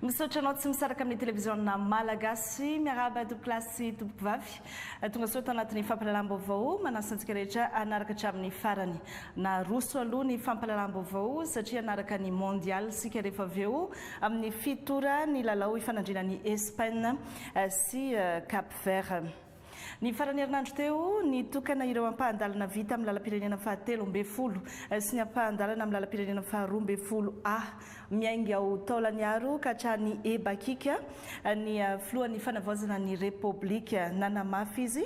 Misaotra anao tsy misaraka amin'ny televiziona Malagasy. Miarahaba tompokolahy sy tompokovavy. Tongasoa tao anatin'ny fampahalalam-baovao. Manasa antsika rehetra hanaraka hatramin'ny farany. Naroso aloha ny fampahalalam-baovao satria hanaraka ny Mondial isika rehefa avy eo amin'ny fito ora ny lalao ifanandrinan'i Espaina sy Cap Vert. Ny faran'ny herinandro teo, nitokana ireo ampahan-dalana vita amin'ny lalam-pirenena fahatelo ambin'ny folo sy ny ampahan-dalana amin'ny lalam-pirenena faharoa ambin'ny folo A. Miainga ao Taolagnaro ka hatrany Ebakika ny filohan'ny fanavaozana ny Repoblika. Nanamafy izy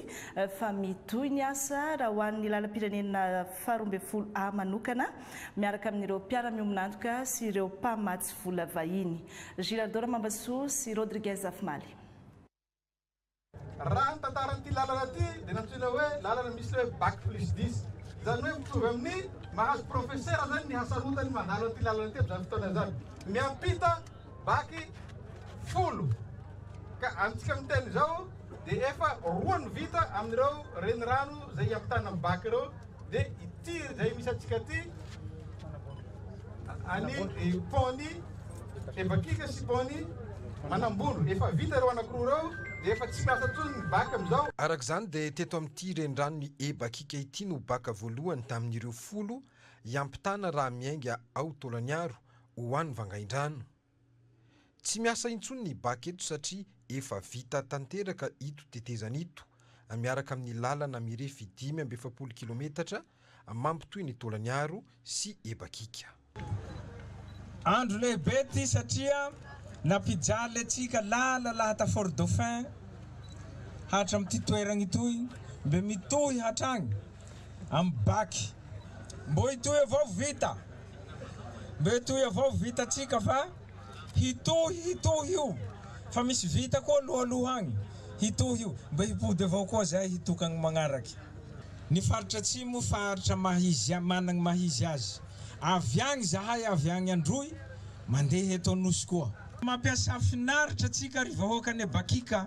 fa mitohy ny asa raha ho an'ny lalam-pirenena faharoa ambin'ny folo A manokana, miaraka amin'ireo mpiara-miombon'antoka sy ireo mpamatsy vola vahiny. Girardeau Ramambasoa sy Rodriguez Afimaly. Raha ny tantaran'ity lalana ity dia nantsoina hoe lalana misy hoe bac plus dix, izany hoe mitovy amin'ny mahazo profesera izany ny hasarotany mandalo an'ity lalana ity amin'izany fotoana izany. Miampita baky folo ka amintsika amin'ny tena izao dia efa roa ny vita amin'ireo renirano izay hiampitana ny bac ireo. de ity zay misy antsika ty any pony evakika sy pony manambolo efa vita reo anakoroa reo de efa tsy miasa tsony ny bac amizao. Araka izany dia teto amin'ity renirano-n'i Ebakika ity no bac voalohany tamin'ireo folo hiampitana raha miainga ao Taolagnaro ho any Vangaindrano. Tsy miasa intsony ny bac eto satria efa vita tanteraka ito tetezana ito miaraka amin'ny lalana mirefy dimy amby efapolo kilometatra mampitohy ny Tolagnaro sy Ebakika. Andro lehibe ity satria nampijaly le tsika lala lahata Fort Dauphin hatramin'ity toerana itoy mbe mitohy hatrany. amin'ny Bac. Mbô hitohy avao vita, mbô hitohy avao vitantsika fa hitohy hitohy io fa misy vita koa aloha aloha agny, hitohy io mbô hipody avao koa zay hitokagny magnaraky. Ny faritra atsimo faritra maha-izy managny maha-izy azy, avy agny zahay avy agny Androy mandeha eto Anosy koa. Mampiasa finaritra tsika ry vahoaka ane Bac ka.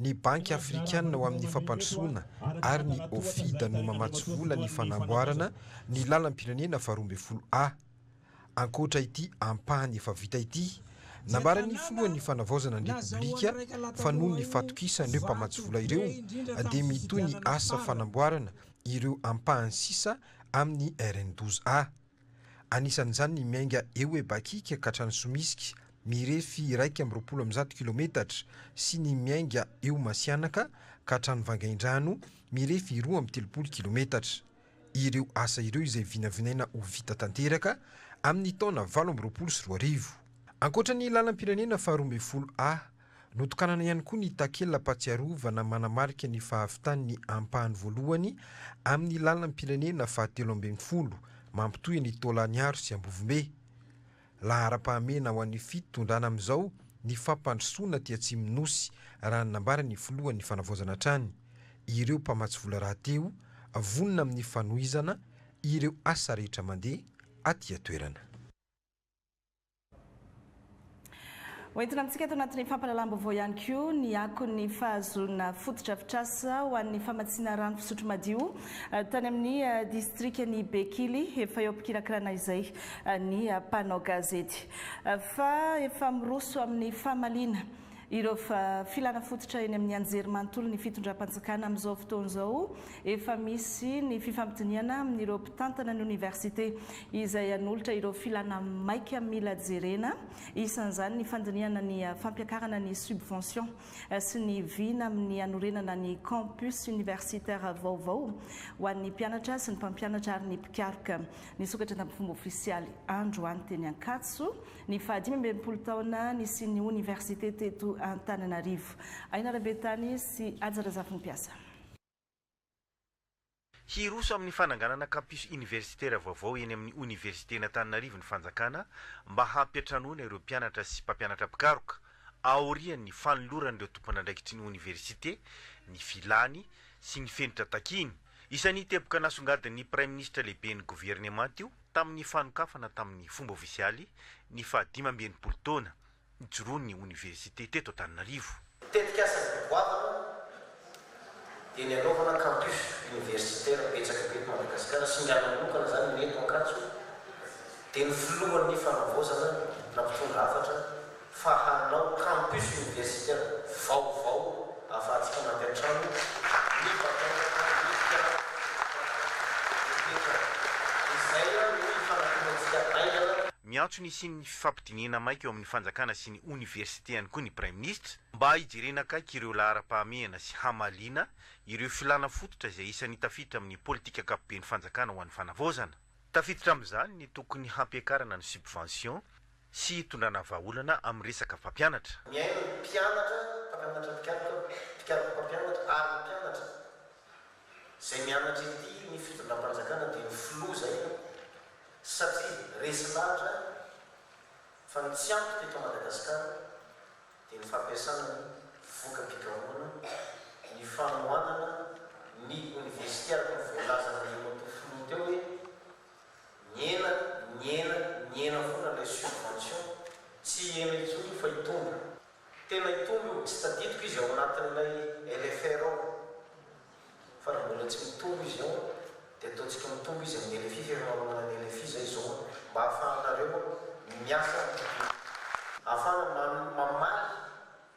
Ny Banky Afrikana ho amin'ny Fampandrosoana ary ny OFIDA no mamatsy vola ny fanamboarana ny lalam-pirenena faharoa ambin'ny folo A. Ankoatra ity ampahany efa vita ity, nambaran'ny filohan'ny Fanavaozana ny Repoblika fa noho ny fatokisan'ireo mpamatsy vola ireo dia mitohy ny asa fanamboarana ireo ampahany sisa amin'ny RN douze A. Anisan'izany ny miainga eo Ebakika ka hatrany Somisika, mirefy iraika amby roapolo amby zato kilaometatra, sy ny miainga eo Masihanaka ka hatrany Vangaindrano, mirefy roa amby telopolo kilaometatra. Ireo asa ireo izay vinavinaina ho vita tanteraka amin'ny taona valo amby roapolo sy roa arivo. Ankoatra ny lalam-pirenena faharoa ambin'ny folo A, Notokanana ihany koa ny takela-pahatsiarovana manamarika ny fahavitan'ny ampahany voalohany amin'ny lalam-pirenena fahatelo ambin'ny folo mampitohy ny Taolagnaro sy Ambovombe. Laharam-pahamena ho an'ny fitondrana amin'izao ny fampandrosoana aty Atsimon'ny Nosy, raha ny nambaran'ny filohan'ny Fanavaozana hatrany ireo mpamatsy vola rahateo, vonona amin'ny fanohizana ireo asa rehetra mandeha aty an-toerana. Ho entina amintsika eto anatin'ny fampahalalam-baovao ihany koa ny akon'ny fahazoana fotodrafitrasa ho an'ny famatsiana rano fisotro madio eh, tany amin'ny eh, distrikan'i Bekily. Efa eo am-pikirakirana izay eh, ny mpanao gazety fa efa miroso amin'ny famaliana Ireo filana fototra eny amin'ny anjerimanontolon'ny fitondram-panjakana amin'izao fotoana izao, efa misy ny fifampidinihana amin'ireo mpitantana ny oniversite izay hanolotra ireo filana maika mila jerena, isan'izany ny fandinihana ny fampiakarana ny subvention sy ny vina amin'ny hanorenana ny campus universitaire vaovao ho an'ny mpianatra sy ny mpampianatra ary ny mpikaroka. Nisokatra tamin'ny fomba ofisialy androany teny Ankatso Ny faha dimy amby enimpolo taona nisian'ny oniversite teto Antananarivo. Aina Rabetany sy Haja Razafinimpiasa. Hiroso amin'ny fananganana campus oniversitaire vaovao eny amin'ny Oniversiten'Antananarivo ny fanjakana mba hampiantranoana ireo mpianatra sy mpampianatra mpikaroka, aorian'ny fanoloran'ireo tompon'andraikitry ny oniversite ny filany sy ny fenitra takiany. Isan'ny teboka nasongadin'ny Praiminisitra Lehiben'ny Governemanta io. Tamin'ny fanokafana tamin'ny fomba ofisialy ny fahadimy amby enimpolo taona nijoroan'ny oniversite teto Antananarivo, Ny tetikasan'ny Fivoahana dia ny hanaovana campus universitaire betsaka be eto Madagasikara, singana manokana izany ny eto Ankatso, dia ny filohan'ny fanavaozana na mpitondra hafatra fa hanao campus universitaire vaovao ahafahantsika mampiantrano ny vatan-jaza mihitsika rehetra. Izay no ifanakorontsika haingana. Miantso ny hisian'ny fifampidinihana maika eo amin'ny fanjakana sy ny oniversite ihany koa ny Praiminisitra mba hijerena akaiky ireo laharam-pahamehana sy hamaliana ireo filàna fototra izay isan'ny tafiditra amin'ny politika ankapoben'ny fanjakana ho an'ny fanavaozana. Tafiditra amin'izany ny tokony hampiakarana ny subvention, sy hitondrana vahaolana amin'ny resaka mpampianatra. Miaina ny mpianatra, mpampianatra mpikaroka, mpikaroka mpampianatra ary ny mpianatra izay mianatra ety ny fitondram-panjakana dia ny filoha izay an! satria resy lahatra fa ny tsy ampy teto Madagasikara dia ny fampiasana ny voka-pikarohana, ny fanohanana ny oniversite araka ny voalazan'Andriamatoa filoha teo hoe Nihena, nihena, nihena foana ilay subvention, tsy hihena intsony io fa hitombo. Tena hitombo io, tsy tadidiko izy ao anatin'ilay LFR ao, fa raha mbola tsy mitombo izy ao dia ataontsika mitombo izy amin'ny LFI fa efa manomana ny LFI izay izao an, mba ahafahanareo miasa, ahafahana mamaly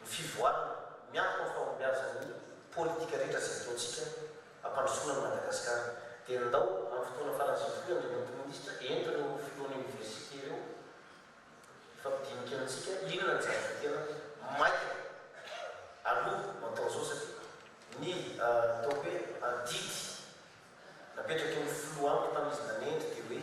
ny fivoarana miankina amin'ny fahombiazan'ny politika rehetra izay ataontsika hampandrosoana an'i Madagasikara dia ndao amin'ny fotoana faran'izay hifoha i Andriamatoa Minisitra ento ireo Filohan'ny Oniversite ireo hifampidinika amintsika inona ny zavatra tena maika aloha no atao izao satria ny ataoko hoe adidy napetraky ny Filoha amiko tamin'izy nanendry dia hoe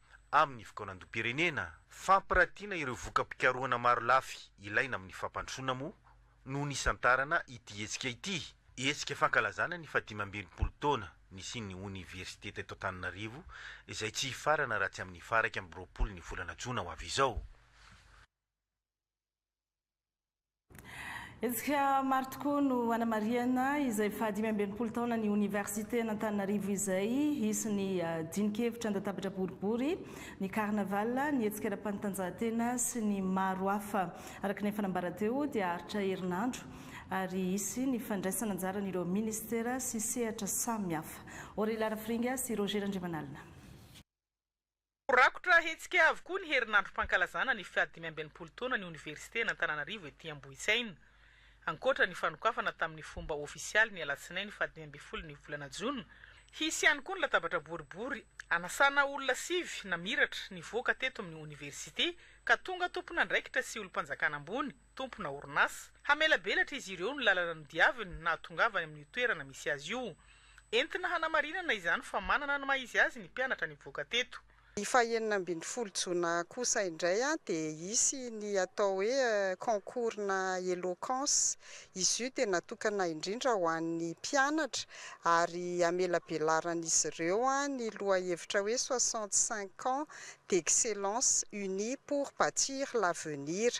amin'ny fikaonandoham-pirenena. Fampirantiana ireo voka-pikarohana marolafy ilaina amin'ny fampandrosoana moa no nisantarana ity hetsika ity. Hetsika fankalazana ny fahadimy amby enimpolo taona nisian'ny oniversite teto Antananarivo izay tsy hifarana raha tsy amin'ny faha iraika amby roapolo ny volana jona ho avy izao. Hetsika maro tokoa no hanamarihana izay fahadimy amby enimpolo taonan'ny Oniversiten'Antananarivo izay hisy ny ah, dinikevitra an-databatra boribory, ny carnaval, ny hetsika ara-panatanjahantena sy ny maro hafa. Araka ny efa nambara teo dia haharitra herinandro ary hisy ny fandraisana anjaran'ireo ministera sy sehatra samihafa. Aurélie Larafiringa sy Roger Randriamanalina. Ho rakotra hetsika avokoa ny herinandrom-pankalazana ny fahadimy amby enimpolo taonan'ny Oniversiten'Antananarivo ety Ambohitsaina. Ankoatra ny fanokafana tamin'ny fomba ofisialy ny alatsinainy fahadimy ambin'ny folo ny volana jona, hisy ihany koa ny latabatra boribory anasana olona sivy namiratra nivoaka teto amin'ny Oniversite ka tonga tompon'andraikitra sy olom-panjakana ambony. tompona orinasa, hamelabelatra izy ireo ny lalana nodiaviny nahatongavany amin'io toerana misy azy io. Entina hanamarinana izany fa manana ny maha izy azy ny mpianatra nivoaka teto. Ny fahenina ambin'ny folo jona kosa indray dia hisy ny atao hoe concours-na eloquence. Izy io dia natokana indrindra ho an'ny mpianatra ary hamelabelaran'izy ireo ny lohahevitra hoe soixante cinq ans d'excellence unis pour batir l'avenir.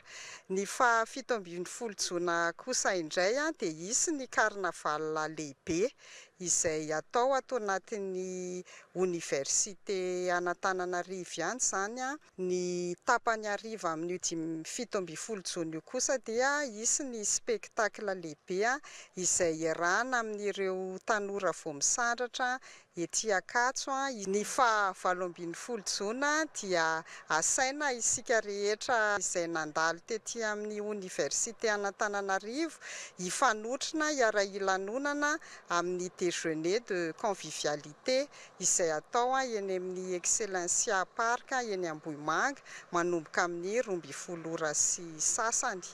Ny faha fito ambin'ny folo jona kosa indray dia hisy ny carnaval lehibe izay hatao ato anatin'ny oniversite an'Antananarivo ihany izany. Ny tapany hariva amin'io dimy fito ambin'ny folo jona io kosa dia hisy ny spectacle lehibe izay iarahana amin'ireo tanora vao misandratra Ety Ankatso, ny faha valo ambin'ny folo jona dia asaina isika rehetra izay nandalo tety amin'ny Oniversite an'Antananarivo hifanotrona hiara-hilanonana amin'ny Déjeuner de convivialité izay atao eny amin'ny Excellencia Park eny Ambohimanga manomboka amin'ny roa ambin'ny folo ora sy sasany.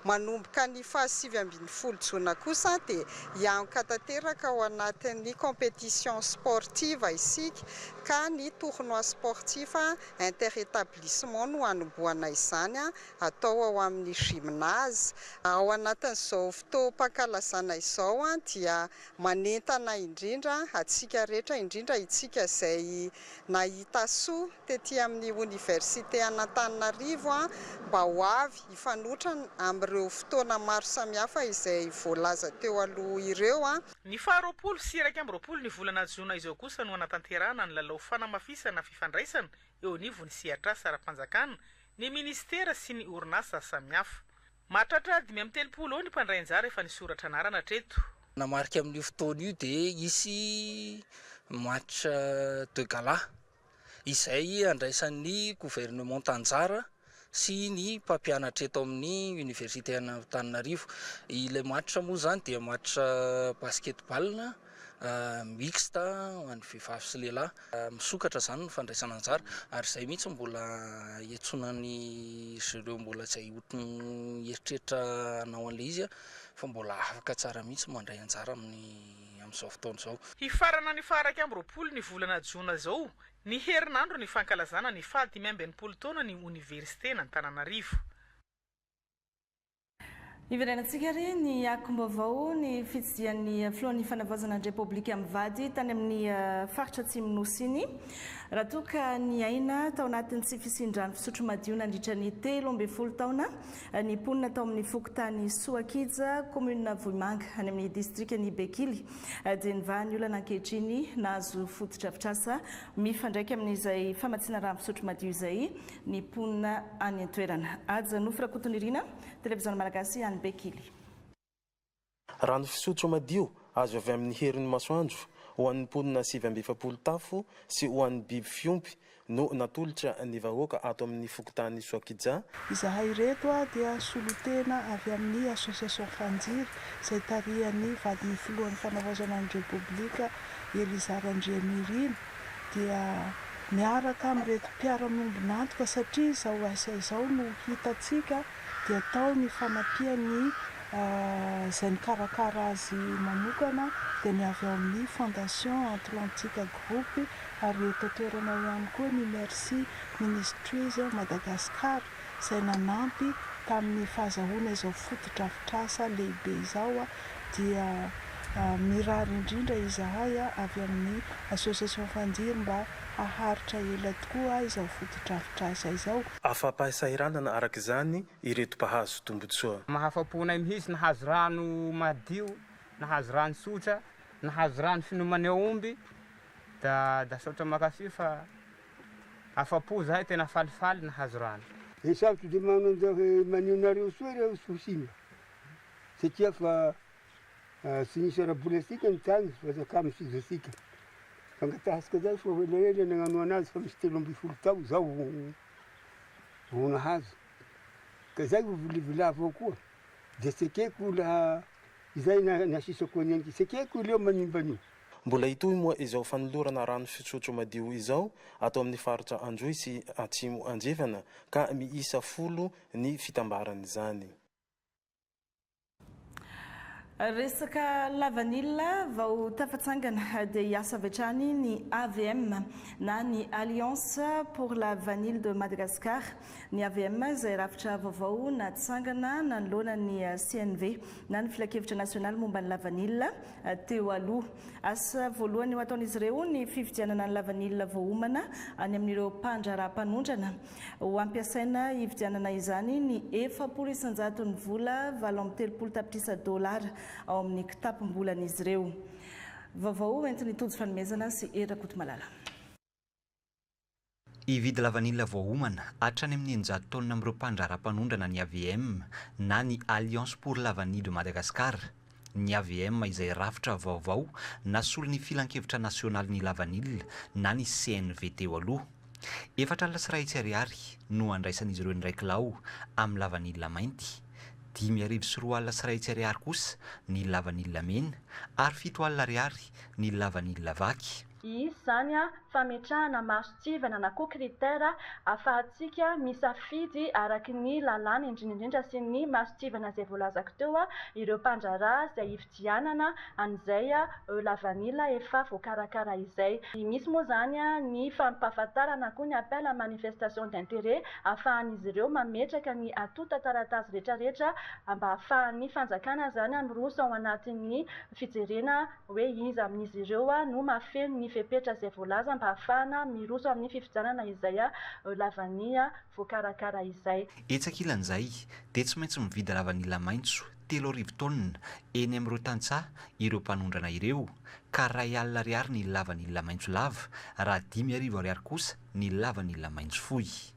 Manomboka ny faha sivy ambin'ny folo jona kosa dia hianka tanteraka ao anatin'ny competition sportive isika ka ny tournoi sportif inter établissement no hanombohana izany atao ao amin'ny gymnase Ao anatin'izao fotoam-pankalazana izao dia manentana indrindra antsika rehetra indrindra itsika izay Nahita soa tety amin'ny Oniversite an'Antananarivo mba ho avy hifanotra amin'ireo fotoana maro samihafa izay voalaza teo aloha ireo. Ny faha roapolo sy iraika amby roapolo ny volana jona izao kosa no hanatanterahana ny lalao fanamafisana fifandraisana eo anivon'ny sehatr'asa ara-panjakana, ny minisitera sy ny orinasa samihafa. Mahatratra dimy amby telopolo eo ny mpandray anjara efa nisoratra anarana hatreto. Nanamarika amin'io fotoana io dia hisy match de gala izay handraisan'ny governemanta anjara sy ny mpampianatra eto amin'ny Oniversiten'Antananarivo. Ilay match moa izany dia match basketball. mixte ho an'ny vehivavy sy lehilahy, misokatra izany ny fandraisana anjara ary izay mihitsy no mbola iantsoanan'izy ireo mbola izay ohatran'ny mieritreritra hanao an'ilay izy fa mbola afaka tsara mihitsy mandray anjara amin'ny amin'izao fotoana izao. Hifarana ny faha iraika amby roapolo ny volana jona izao ny herinandro ny fankalazana ny faha dimy amby enimpolo taonan'ny oniversiten'Antananarivo. Iverenantsika ary ny akom-baovao, ny fitsidihan'ny Filohan'ny Fanavaozana ny Repoblika mivady tany amin'ny faritra Atsimon'ny Nosy iny raha toa ka niaina tao anatin'ny tsy fisian-drano fisotro madio nandritra ny telo ambin'ny folo taona ny mponina tao amin'ny fokontany Soakija, kaominina Vohimanga any amin'ny distrikan'i Bekily dia nivaha ny olana ankehitriny nahazo fotodrafitrasa mifandraika amin'izay famatsiana rano fisotro madio izay. Ny mponina any an-toerana. Haja Nofy Rakotonirina, Televiziona Malagasy any Bekily. Rano fisotro madio azo avy amin'ny herin'ny masoandro ho an'ny mponina sivy amby efapolo tafo sy ho an'ny biby fiompy no natolotra ny vahoaka ato amin'ny fokontany Soakija, Izahay ireto dia solontena avy amin'ny Association Fanjira izay tarihan'ny vadin'ny filohan'ny fanavaozana ny Repoblika Eliza Randrianirina. dia miaraka amin'ireto mpiara-miombon'antoka satria izao asa izao no hitantsika dia tao ny fanampian'ny izay mikarakara azy manokana dia ny avy ao amin'ny Fondation Atlantique Group ary eto an-toerana ao ihany koa ny Mercy Ministries Madagascar izay nanampy tamin'ny fahazahoana izao fotodrafitrasa lehibe izao dia mirary indrindra izahay avy amin'ny Association Fandiry mba haharitra ela tokoa izao fotodrafitrasa izao. Afa-pahasahiranana araka izany ireto mpahazo tombontsoa. Mahafa-po anay mihitsy nahazo rano madio, nahazo rano tsotra, nahazo rano finomany aomby da da saotra makafy fa afa-po zahay tena falifaly nahazo rano. Ny sabotsy dia manonja hoe manio nareo soa ireo tsy ho simba. satria fa tsy nisy ara-bola antsika ny tany fa zakamin'ny fizatsika. Fangatahitsika zany fa ho ela ela ny agnanoana azy fa misy telo ambin'ny folo tao zao vao nahazo. Ka zay ho vilivilà avao koa. Dia tsy ekeko laha izay na nasisako an'i Anika. Tsy ekeko ireo manimba an'io. Mbola hitohy moa izao fanolorana rano fisotro madio izao ato amin'ny faritra Androy sy Atsimo Andrefana ka miisa folo ny fitambaran'izany. Resaka lavanila, vao tafatsangana dia hiasa avy hatrany ny AVM na ny Alliance pour la Vanille de Madagascar. Ny AVM izay rafitra vaovao natsangana nanoloana ny CNV na ny Filankevitra nasionaly momba ny lavanila teo aloha. Asa voalohany ho ataon'izy ireo ny fifidianana ny lavanila voaomana any amin'ireo mpandraharaha mpanondrana. Ho ampiasaina hividianana izany ny efapolo isan-jaton'ny vola valo amby telopolo tapitrisa dolara ao amin'ny kitapom-bolan'izy ireo. Vaovao entin'i Tojo Fanomezana sy Hery Rakotomalala. Hividy lavanila voaomana hatrany amin'ny eninjato taonina amin'ireo mpandraharaha mpanondrana ny avm na ny Alliance pour Lavanille de Madagascar, ny hvm izay rafitra vaovao nasolo ny Filankevitra Nasionalin'ny Lavanila na ny CNV teo aloha. Efatra alina sy iray hetsy ariary no handraisan'izy ireo ny iray kilao amin'ny lavanila mainty, dimy arivo sy roa alina sy iray hetsy ariary kosa ny lavanila mena ary fito alina ariary ny lavanila vaky. Iisy izany fametrahana mason-tsivana na koa critère ahafahantsika misafidy araka ny lalàna indrindra indrindra sy ny mason-tsivana izay voalazako teo ireo mpandraharaha izay hifidianana an'izay eo lavanila efa voakarakara izay. Misy moa izany ny fampahafantarana na koa ny appel à manifestation d'intérêt ahafahan'izy ireo mametraka ny antontan-taratasy rehetra rehetra mba ahafahan'ny fanjakana izany miroso ao anatin'ny fijerena hoe iza amin'izy ireo no mahafeno ny fepetra izay voalaza mba hahafahana miroso amin'ny fifidianana izay lavan'ny voakarakara izay. Etsy ankilan'izay, dia tsy maintsy mividy lavanila maitso telo arivo taonina eny amin'ireo tantsaha ireo mpanondrana ireo, ka iray alina ariary ny lavanila maitso lava, raha dimy arivo ariary kosa ny lavanila maitso fohy.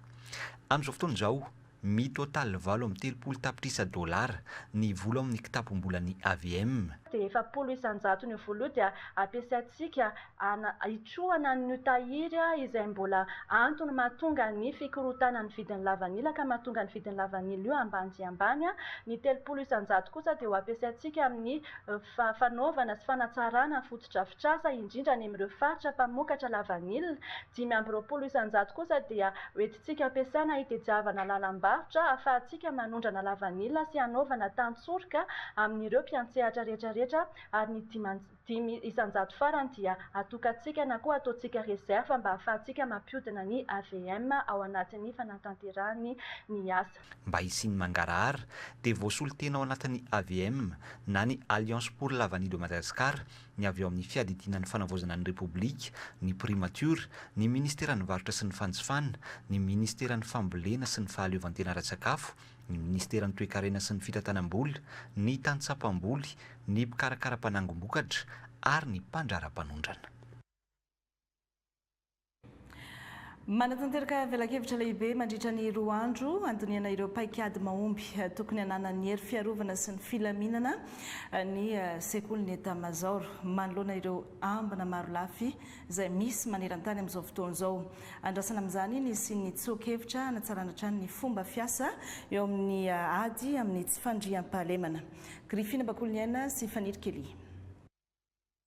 Amin'izao fotoana izao, Mi-total valo amby telopolo tapitrisa dolara ny vola ao amin'ny kitapom-bolan'ny hvm. Dia efapolo isan-jaton'io vola io dia ampiasaintsika ana hitrohana an'io tahiry izay mbola antony mahatonga ny fikorontanan'ny vidin'ny lavanila ka mahatonga ny vidin'ny lavanila io ambany dia ambany. Ny telopolo isan-jato kosa dia ho ampiasaintsika amin'ny fanaovana sy fanatsarana ny fotodrafitrasa indrindra any amin'ireo faritra mpamokatra lavanila. Dimy amby roapolo isan-jato kosa dia ho. tsika ampiasana hitediavana lalam-barotra ahafahantsika manondrana lavanila sy hanaovana tantsoroka amin'ireo mpiantsehatra rehetra rehetra ary ny dimanj dimy isan-jato farany dia atokantsika na koa ataontsika reserve mba ahafahantsika mampiodina ny avm ao anatin'ny fanatanterahany ny asa. Mba hisian'ny mangarahara dia voasolo tena ao anatin'ny avm na ny Alliance pour la vanille de Madagascar ny avy ao amin'ny Fiadidiana ny Fanavaozana ny Repoblika, ny Primatiora, ny Ministeran'ny Varotra sy ny Fanjifana, ny Ministeran'ny Fambolena sy ny Fahaleovantena ara-tsakafo, ny Ministeran'ny Toekarena sy ny Fitantanam-bola, ny Tantsaha Mpamboly, ny Mpikarakara Mpanangom-bokatra ary ny Mpandraharapanondrana. Manatanteraka velakevitra lehibe mandritra ny roa andro handinihana ireo paikady mahomby tokony hananan'ny hery fiarovana sy ny filaminana ny sekolin'ny Etamazaoro manoloana ireo ambina marolafy izay misy maneran-tany amin'izao fotoana izao. Andrasana amin'izany ny hisian'ny tsoa-kevitra hanatsarana hatrany ny fomba fiasa eo amin'ny ady amin'ny tsy fandriampahalemana. Grifina Bakoliniaina sy Faniry Kelly.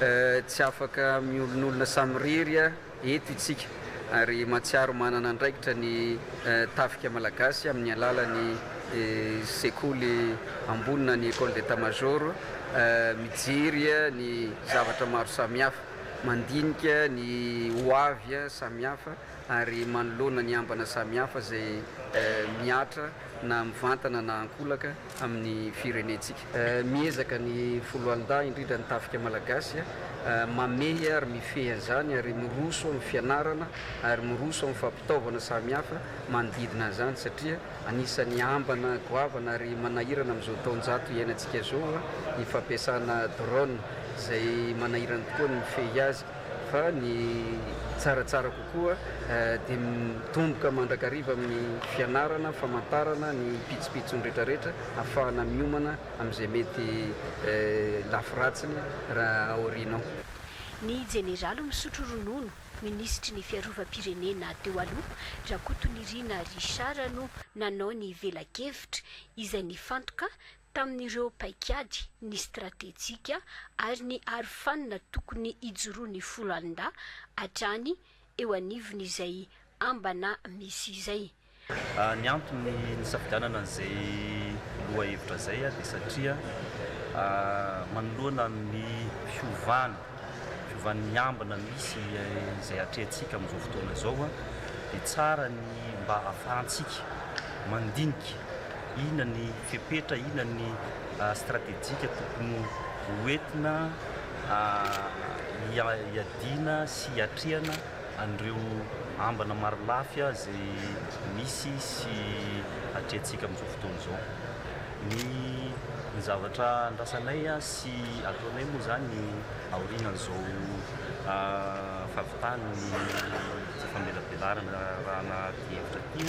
Tsy afaka miolonolona samirery eto itsika ary mahatsiaro manana andraikitra ny Tafika Malagasy amin'ny alalan'ny Sekoly Ambony na ny Ecole d'Etat Major mijery ny zavatra maro samihafa, mandinika ny ho avy samihafa ary manoloana ny ambana samihafa izay mihatra na mivantana na ankolaka amin'ny firenentsika. Miezaka ny foloalindahy, indrindra ny tafika malagasy, mamehy ary mifehy an'izany ary miroso amin'ny fianarana ary miroso amin'ny fampitaovana samihafa manodidina an'izany satria anisan'ny ambana goavana ary manahirana amin'izao taonjato iainantsika izao ny fampiasana drone izay manahirana tokoa ny mifehy azy. fa ny tsaratsara kokoa dia mitomboka mandrakariva amin'ny fianarana, famantarana ny pitsopitsony rehetrarehetra afahana miomana amin'izay mety lafy ratsiny raha aorianao. Ny Jeneraly misotro ronono, Minisitry ny Fiarovam-pirenena teo aloha, Rakotonirina Richard no nanao ny velakevitra, izay nifantoka tamin'ireo paikady, ny stratejika ary ny arofanina tokony hijoroan'ny foloalindahy hatrany eo anivon'izay ambana misy izay. Ny antony nisafidianana an'izay lohahevitra izay dia satria manoloana ny fiovana Fiovana miambina misy izay atrehantsika amin'izao fotoana izao dia tsara ny mba ahafahantsika mandinika inona ny fepetra, inona ny stratejika tokony ho entina hiadiana sy hiatrehana an'ireo ambina marolafy izay misy sy atrehantsika amin'izao fotoana izao. Ny zavatra andrasanay. Tsy ataonay moa izany ny aorian'izao fahavitan'ny ity famelabelarana raha anaty efitra ity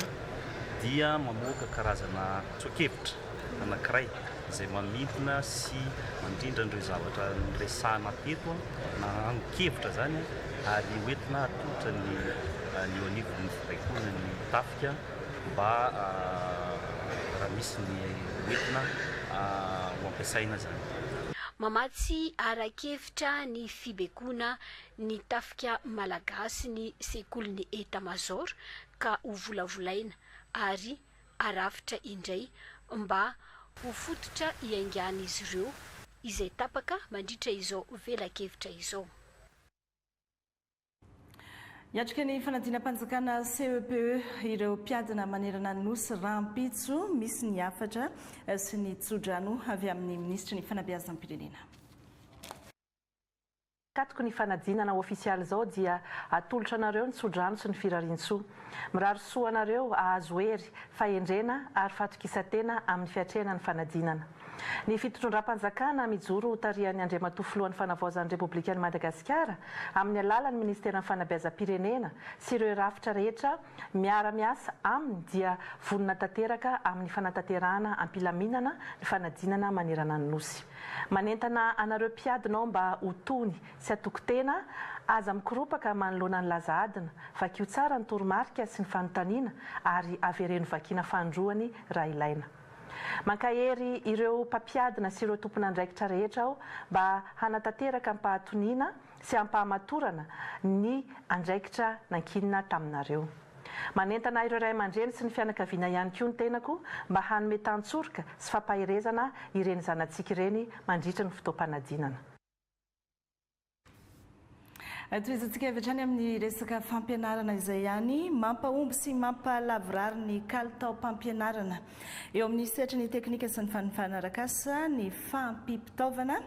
dia mamoaka karazana tsoa-kevitra anankiray izay mamintina sy mandrindra an'ireo zavatra niresahana teto na angon-kevitra izany ary hoentina atolotra ny eo anivon'ny baikon' ny tafika mba raha misy ny hoentina ho ampiasaina zany. Mamatsy ara-kevitra ny fibekoana ny tafika malagasy ny sekolin'ny Etat Major ka hovolavolaina ary harafitra indray mba ho fototra hiaingan'izy ireo izay tapaka mandritra izao velakevitra izao. Hiatrika ny fanadinam-panjakana CEPE ireo mpiadina manerana ny Nosy rahampitso, misy ny hafatra sy ny tsodrano avy amin'ny minisitry ny fanabeazam-pirenena. Tatoky ny fanadinana ofisialy izao dia atolotra anareo ny tsodrano sy ny firariantsoa. Mirary soa anareo hahazo hery, fahendrena ary fatokisantena amin'ny fiatrehana ny fanadinana. Ny fitondram-panjakana mijoro ho tarihan'ny Andriamatoa Filohan'ny Fanavaozan'ny Repoblikan'i Madagasikara amin'ny alalan'ny Ministeran'ny Fanabeazam-pirenena sy ireo rafitra rehetra miara-miasa aminy dia vonona tanteraka amin'ny fanatanterahana am-pilaminana ny fanadinana manerana ny Nosy. Manentana anareo mpiadinao mba ho tony sy hatoky tena, aza mikoropaka manoloana ny laza adina, vakio tsara ny toromarika sy ny fanontaniana ary avereno vakiana fanindroany raha ilaina. Mankahery ireo mpampiadina sy ireo tompon'andraikitra rehetra aho mba hanatanteraka am-pahatoniana sy am-pahamatorana ny andraikitra nankinina taminareo. Manentana ireo ray aman-dreny sy ny fianakaviana ihany koa ny tenako mba hanome tantsoroka sy fampaherezana ireny zanatsika ireny mandritry ny fotoam-panadinana. Tohizantsika avy hatrany amin'ny resaka fampianarana izay ihany mampahomby sy mampahalavorary ny kalitaom-pampianarana. Eo amin'ny sehatry ny teknika sy ny fanofana arak'asa ny fahampiam-pitaovana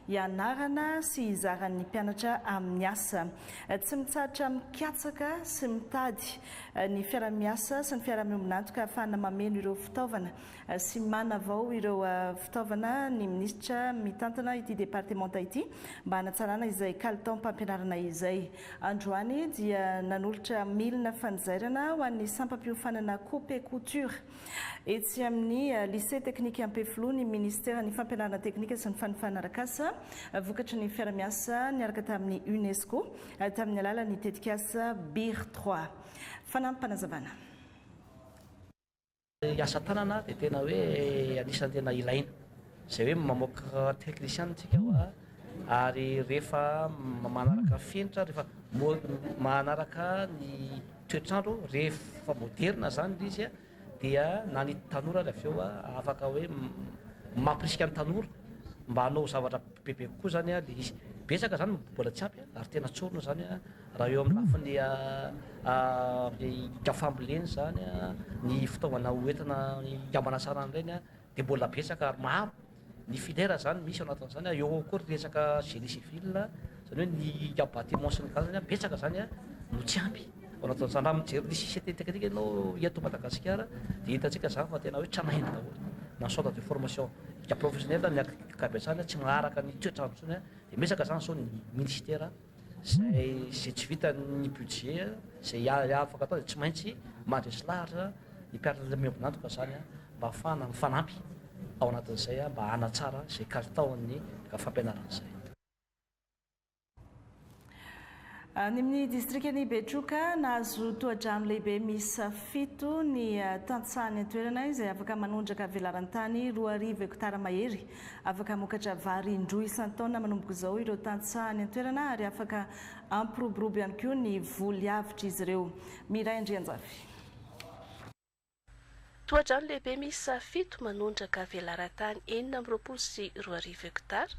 hianarana sy hizaran'ny mpianatra amin'ny asa. Tsy mitsahatra mikatsaka sy mitady ny fiarahamiasa sy ny fiarahamonina antoka ahafahana mameno ireo fitaovana sy manavao ireo fitaovana ny minisitra mitantana ity departemanta ity mba hanatsarana izay kalitaom-pampianarana izay. Androany dia nanolotra milina fanizairana ho an'ny sampam-piofanana Coupe Couture etsy amin'ny Lycée Teknika Ampefiloha ny minisiteran'ny Fampianarana Teknika sy ny Fanofana Arakasa vokatry ny fiara-miasa niaraka tamin'ny UNESCO tamin'ny alalan'ny tetikasa Beer trois. Fanampim-panazavana. Ny asa tanana dia tena hoe anisan'ny tena ilaina, izay hoe mamoaka technician tsika hoa, ary rehefa manaraka fenitra, rehefa manaraka ny toetr'andro, rehefa moderina zany le izy dia na ny tanora ary avy eo afaka hoe mampirisika ny tanora mba hanao zavatra bebe kokoa zany le izy, betsaka zany mbola tsy ampy ary tena tsorina zany. Raha eo amin'ny lafiny ika fambolena izany, ny fitaovana ho entina hikambana tsara amin'ireny dia mbola betsaka ary maro ny filière izany misy ao anatin'izany eo ao koa ny resaka génie civil izany hoe ny ika bâtiment sy ny tariny an, betsaka izany an no tsy ampy ao anatin'izany, raha mijery ny CCT technique ianao eto Madagasikara dia hitantsika izany fa tena hoe tranainy daholo na centre de formation ika professionnel ny ankabetsahany tsy manaraka ny toetr'andro intsony an, dia betsaka izany sao ny ministère. Izay izay tsy vitan'ny budget, izay afaka atao dia tsy maintsy mandresy lahatra ny mpiara miombon'antoka izany mba hahafahana mifanampy ao anatin'izay mba hanatsara izay kalitaon'ny fampianarana izay. Any amin'ny distrikan'i Betroka, nahazo tohadrano lehibe miisa fito ny tantsaha any an-toerana izay afaka manondraka velaran-tany roa arivo hektara mahery Afaka hamokatra vary indroa isan-taona manomboka izao ireo tantsaha any an-toerana ary afaka hampiroborobo ihany koa ny voly avotr'izy ireo. Miray Andrianjafy. Tohadrano lehibe miisa fito manondraka velaran-tany enina amby roapolo sy roa arivo hektara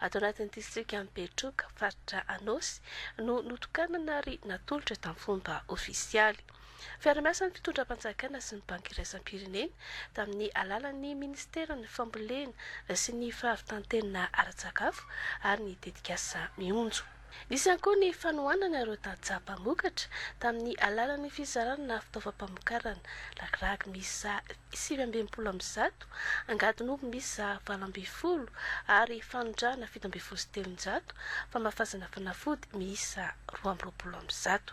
ato anatin'ny distrikan'i Betroka, faritra Anôsy, no notokanana ary natolotra tamin'ny fomba ofisialy. Fiaraha-miasan'ny fitondram-panjakana sy ny Banky iraisam-pirenena tamin'ny alalan'ny Ministeran'ny Fambolena sy ny Fahavitan-tena ara-tsakafo ary ny tetikasa Mionjo. Nisy ihany koa ny fanohanana ireo tantsaha mpamokatra tamin'ny alalan'ny fizarana fitaovam-pamokarana, ragiragy miisa sivy amby enimpolo amby zato, angadin'omby miisa valo ambin'ny folo ary fanondrahana fito ambin'ny folo sy telonjato, famafazana fanafody miisa roa amby roapolo amby zato.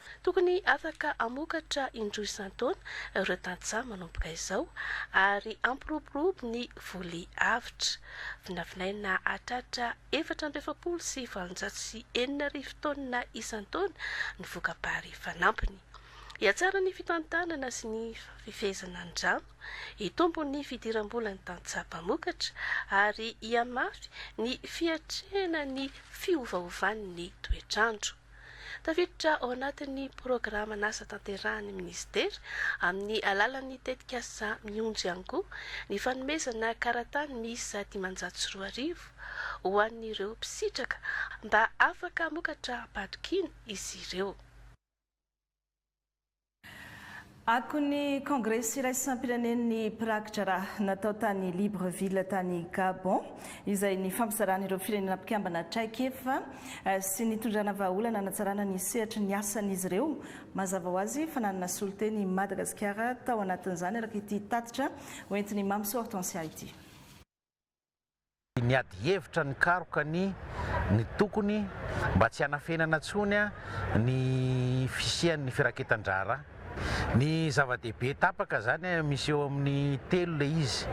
Tokony afaka hamokatra indroa isan-taona ireo tantsaha manomboka izao ary hampiroborobo ny voly avotra. Vinavinaina hahatratra efatra amby efapolo sy valonjato sy enina arivo taonina isan-taona ny voka-bary fanampiny. Hihatsara ny fitantanana sy ny fifehezana ny rano, hitombo ny fidiram-bolan'ny tantsaha mpamokatra ary hihamafy ny fiatrehana ny fiovaovan'ny toetr'andro. Tafiditra ao anatin'ny programan'asa tanterahan'ny minisitera, amin'ny alalan'ny tetikasa Mionjo ihany koa, ny fanomezana karatany miisa dimanjato sy roa arivo ho an'ireo mpisitraka mba afaka hamokatra am-pahatokiana izy ireo. Akon'ny Kongresy iraisam-pirenen'ny mpirakidraraha natao tany Libreville tany Gabon, izay nifampizaran'ireo firenena mpikambana traikefa sy nitondrana vahaolana hanatsarana ny sehatry ny asan'izy ireo, mazava ho azy fa nanana solontena i Madagasikara tao anatin'izany, araka ity tatitra hoentin'i Mamso Hortensia ity. Niady hevitra nikaroka ny ny tokony mba tsy hanafenana intsony ny fisian'ny firaketan-draharaha. Ny zava-dehibe tapaka izany misy eo amin'ny telo ilay izy.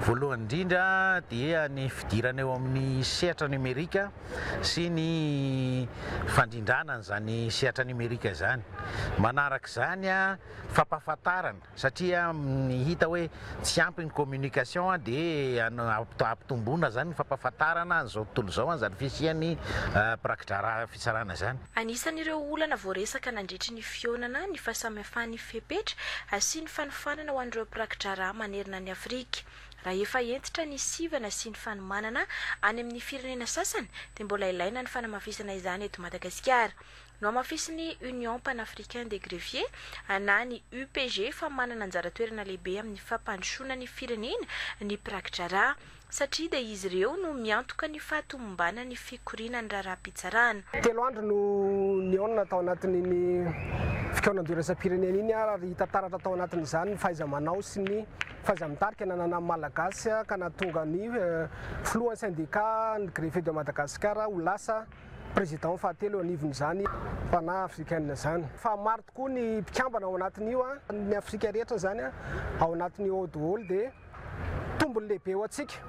Voalohany indrindra dia ny fidirana eo amin'ny sehatra nomerika sy ny fandrindrana an'izany sehatra nomerika izany. Manaraka izany fampahafantarana. satria hita hoe tsy ampy ny communication dia hampitomboina izany ny fampahafantarana an'izao tontolo izao an'izany fisian'ny mpirakidraraha fitsarana izany. Anisan'ireo olana voaresaka nandritry ny fihaonana ny fahasamihafan'ny fepetra asian'ny fanofanana ho an'ireo mpirakidraraha manerana an'i Afrika. Raha efa hentitra ny sivana sy ny fanomanana any amin'ny firenena sasany dia mbola ilaina ny fanamafisana izany eto Madagasikara. Nohamafisin'ny Union Panafricain des Greffiers, na ny UPG, fa manana anjara toerana lehibe amin'ny fampandrosoana ny firenena ny mpiraki-draharaha, satria dia izy ireo no miantoka ny fahatomombanan'ny fikoriana ny raharaham-pitsarana. Telo andro no nihaonana tao anatin'iny fikaonanjo iraisam-pirenena iny ary hita taratra tao anatin'izany ny fahaiza-manao sy ny fahaiza-mitarika nananan'ny Malagasy ka nahatonga ny filohan'ny Syndicat ny Greffiers de Madagascar ho lasa Président fahatelo eo anivon'izany mpanahy africaine izany. Fa maro tokoa ny mpikambana ao anatin'io an, ny Afrika rehetra izany an, ao anatin'io ao doholy dia tombony lehibe ho antsika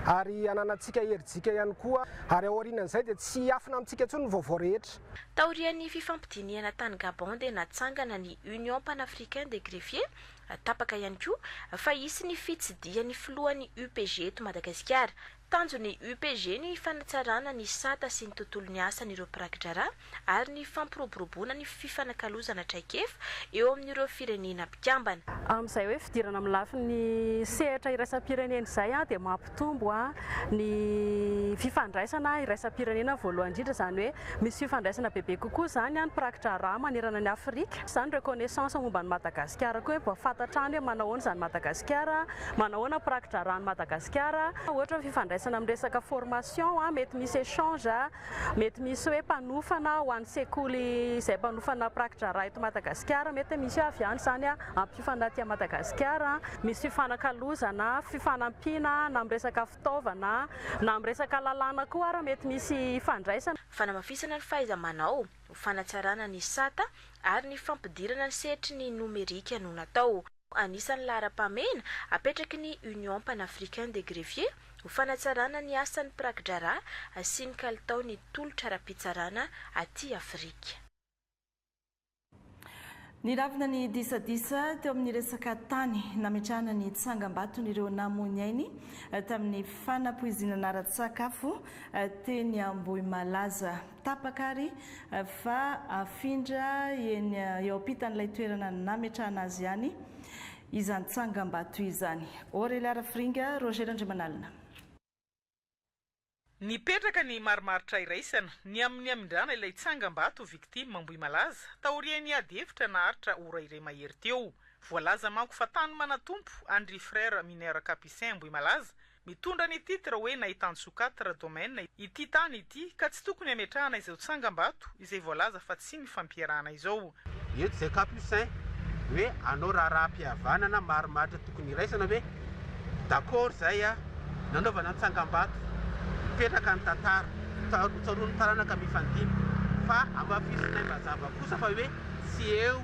ary hananantsika herijika ihany koa ary aorianan'izay dia tsy hiafina amintsika intsony ny vaovao rehetra. Taorian'ny fifampidinihana tany Gabon dia natsangana ny Union Panafricain des Greffiers, tapaka ihany koa fa hisy ny fitsidihan'ny filohan'ny UPG eto Madagasikara. Tanjon'ny UPG ny fanatsarana ny sata sy ny tontolon'ny asan'ireo mpiraki-draharaha ary ny fampiroboroboana ny fifanakalozana traikefa eo amin'ireo firenena mpikambana. Amin'izay hoe fidirana amin'ny lafiny sehatra iraisam-pirenena izay dia mampitombo ny fifandraisana iraisam-pirenena voalohany indrindra, izany hoe misy fifandraisana bebe kokoa izany ny mpiraki-draharaha manerana an'i Afrika, izany reconnaissance momba an'i Madagasikara koa hoe mba fantatra any hoe manao ahoana izany Madagasikara. Manahoana mpiraki-draharahan'i Madagasikara? Ohatra ny fifandraisana amin'ny resaka formation, mety misy échange, mety misy hoe mpanofana ho an'ny sekoly izay mpanofana mpiraki-draharaha eto Madagasikara, mety misy hoe avy any izany hampiofana aty Madagasikara. Misy fifanakalozana, fifanampiana na amin'ny resaka fitaovana, na amin'ny resaka lalàna koa ary mety misy hifandraisana. Fanamafisana ny fahaiza-manao, ho fanatsarana ny sata ary ny fampidirana ny sehatry ny nomerika no natao. Anisan'ny laharam-pahamehana apetraky ny Union Panafricain des Greffiers ho fanatsarana ny asan'ny mpiraki-draharaha asiany kalitao ny tolotra ara-pitsarana aty Afrika. Niravona ny disadisa teo amin'ny resaka tany nametrahana ny tsangambaton'ireo namoy ny ainy tamin'ny fanapoizinana ara-tsakafo teny Ambohimalaza. Tapaka ary fa afindra eny eo ampitan'ilay toerana nametrahana azy ihany izany tsangambato izany. Aurélie Arafiringa, Roger Randriamanalina. Nipetraka ny marimaritra iraisana ny amin'ny hamindrana ilay tsangambato ho victime Ambohimalaza taorian'ny ady hevitra naharitra ora iray mahery teo. Voalaza manko fa tany manatompo an-dry Frères Mineurs Capucins Ambohimalaza Mitondra ny titre hoe Nahitan Sokatra Domaine ity tany ity ka tsy tokony hametrahana izao tsangambato izay voalaza fa tsy mifampierahana izao. Eto izay capucin hoe anao raharaham-pihavanana marimaritra tokony iraisana ve? D'accord izay a! Nanaovana ny tsangambato, mipetraka ny tantara, tsaro tsaroan'ny taranaka mifandimby fa amafisinay mazava kosa fa hoe tsy eo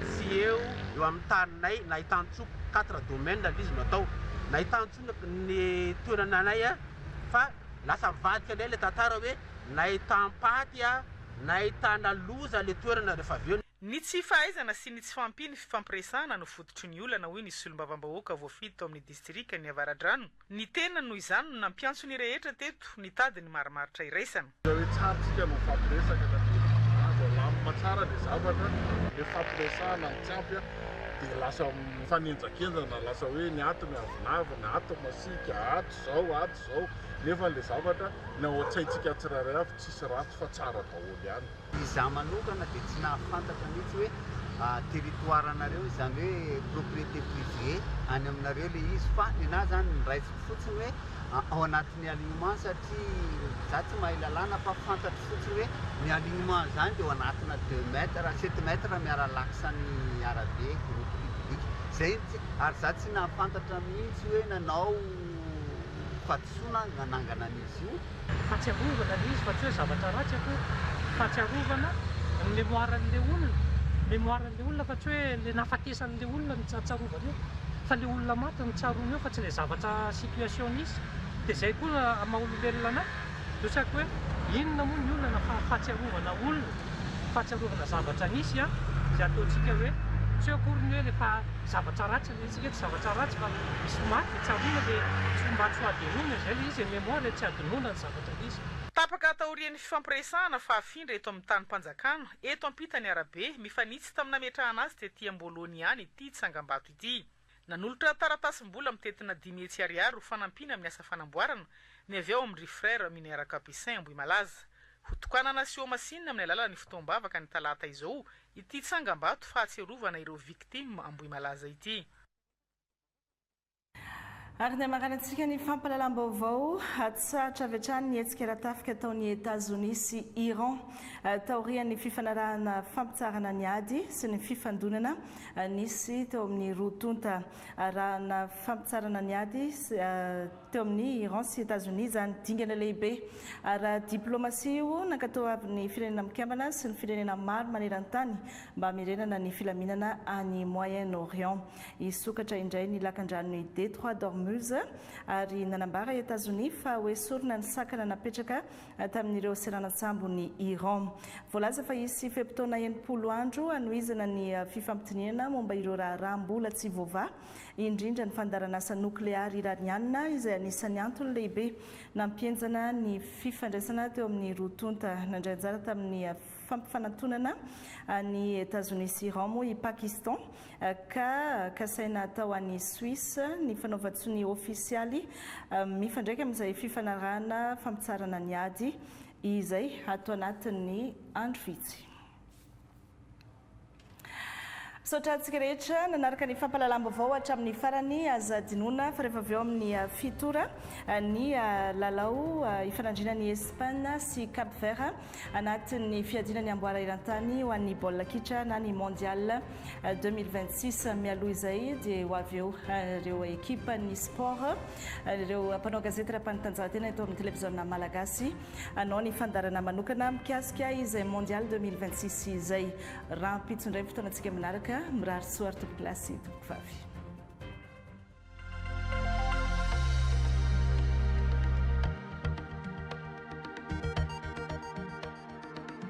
tsy eo eo amin'ny taninay Nahitan quatre domaines aloha izy no atao, nahitany intsony ny toerana anay a, fa lasa mivadika indray ilay tantara hoe nahitam-paty a, nahitana loza ilay toerana rehefa avy eo. Ny tsy fahaizana sy ny tsy fahampian'ny fifampiresahana no fototry ny olana, hoy ny solombavambahoaka voafidy tao amin'ny distrikan'ny Avaradrano, Ny tenany noho izany no nampiantso ny rehetra teto nitady ny marimaritra iraisana. Raha hoe tsara tsika no mifampiresaka ka dia azo alamina tsara ilay zavatra, ilay fifampiresahana no tsy ampy an, dia lasa mifanenjakenjana, lasa hoe ny ato miavonavona, ato masiaka, ato izao, ato izao, nefa ilay zavatra ny ao an-tsaintsika tsirairay avy tsisy ratsy fa tsara daholo ihany. Izaho manokana dia tsy nahafantatra mihitsy hoe territoire anareo izany hoe propriété privée any aminareo ilay izy fa ny anah izany noraisiko fotsiny hoe ao anatin'ny alignement satria izaho tsy mahay lalàna fa fantatro fotsiny hoe ny alignement izany dia ao anatina deux mètres, sept mètres miara laksa ny arabe, route publique. Izay, ary izaho tsy nahafantatra mihitsy hoe nanao. Soa na nanangana an'izy io. Fahatsiarovana le izy fa tsy hoe zavatra ratsy akory. Fahatsiarovana ny mémoire an'le olona. Mémoire an'le olona fa tsy hoe le nahafatesan'le olona no tsarovana eo. Fa le olona maty no tsaroana eo fa tsy le zavatra situation nisy. De zay koa amin'ny maha olombelona anay. Zao tsy haiko hoe inona moa ny olana fa fahatsiarovana olona. Fahatsiarovana zavatra nisy an. Zay ataontsika hoe tsy eo akory ny hoe le fa zavatra ratsy. Omena antsika eto zavatra ratsy fa misy ho maty dia tsy hamono dia tsy ho maty fahavelomana, izay ilay izy, mémoire, tsy hadinoina ny zavatra misy. Tapaka taorian'ny fifampiresahana fahafindra eto amin'ny tanim-panjakana, eto ampitan'ny arabe, mifanitsy tamin'ny nametrahana azy tety Amboholoany ihany ity tsangambato ity. Nanolotra taratasim-bola mitentina dimy hetsy ariary ho fanampiana amin'ny asa fanamboarana ny avy ao amin-dry Frères Mineurs Capucins Ambohimalaza. Hotokanana sy hohamasinina amin'ny alalan'ny fotoam-bavaka ny talata izao Ity tsangambato fahatsiarovana ireo victimes Ambohimalaza ity. Ary ny hamaranan-tsika ny fampahalalam-baovao, Hatsahatra avy hatrany ny hetsika ara-tafika ataon'i Etazonia sy Iran taorian'ny fifanarahana fampitsaharana ny ady sy ny fifandonana nisy teo amin'ny roa tonta arahana fampitsaharana ny ady sy Teo amin'i Iran sy Etazonia izany dingana lehibe ara-diplaomasia io nankatoavin'ny Firenena Mikambana sy ny firenena maro maneran-tany mba hamerenana ny filaminana any Moyen-Orient. Hisokatra indray ny lakandranon'i Détroit d'Ormuz ary nanambara i Etazonia fa hoesorina ny sakana napetraka tamin'ireo seranan-tsambon'i Iran. Voalaza fa hisy fe-potoana enimpolo andro hanohizana ny fifampidinihana momba ireo raharaha mbola tsy voavaha indrindra ny fandaharanasa nokleary Iraniana izay anisan'ny antony lehibe nampihenjana ny fifandraisana teo amin'ny roa tonta. Nandray anjara tamin'ny fampifanantonana an'i Etazonia sy Iran moa i Pakistan ka kasaina tao any Suisse ny fanaovan-tsonia ofisialy mifandraika amin'izay fifanarahana fampitsarana ny ady izay ato anatin'ny andro vitsy. Misaotra antsika rehetra nanaraka ny fampahalalam-baovao hatramin'ny farany. Aza adinoina fa rehefa avy eo amin'ny fito ora ny lalao ifanandriana ny Espagne sy Cap Vert anatin'ny fiadiana ny amboara eran-tany ho an'ny baolina kitra na ny Mondial 2026. Mialoha izay dia ho avy eo ireo ekipan'ny sport, ireo mpanao gazety ara-panatanjahantena eto amin'ny televiziona Malagasy. hanao ny fandaharana manokana mikasika izay Mondial deux mille vingt six izay. Rahampitso indray ny fotoanantsika manaraka. Mirary soa ary tompoko lahy sy tompoko vavy.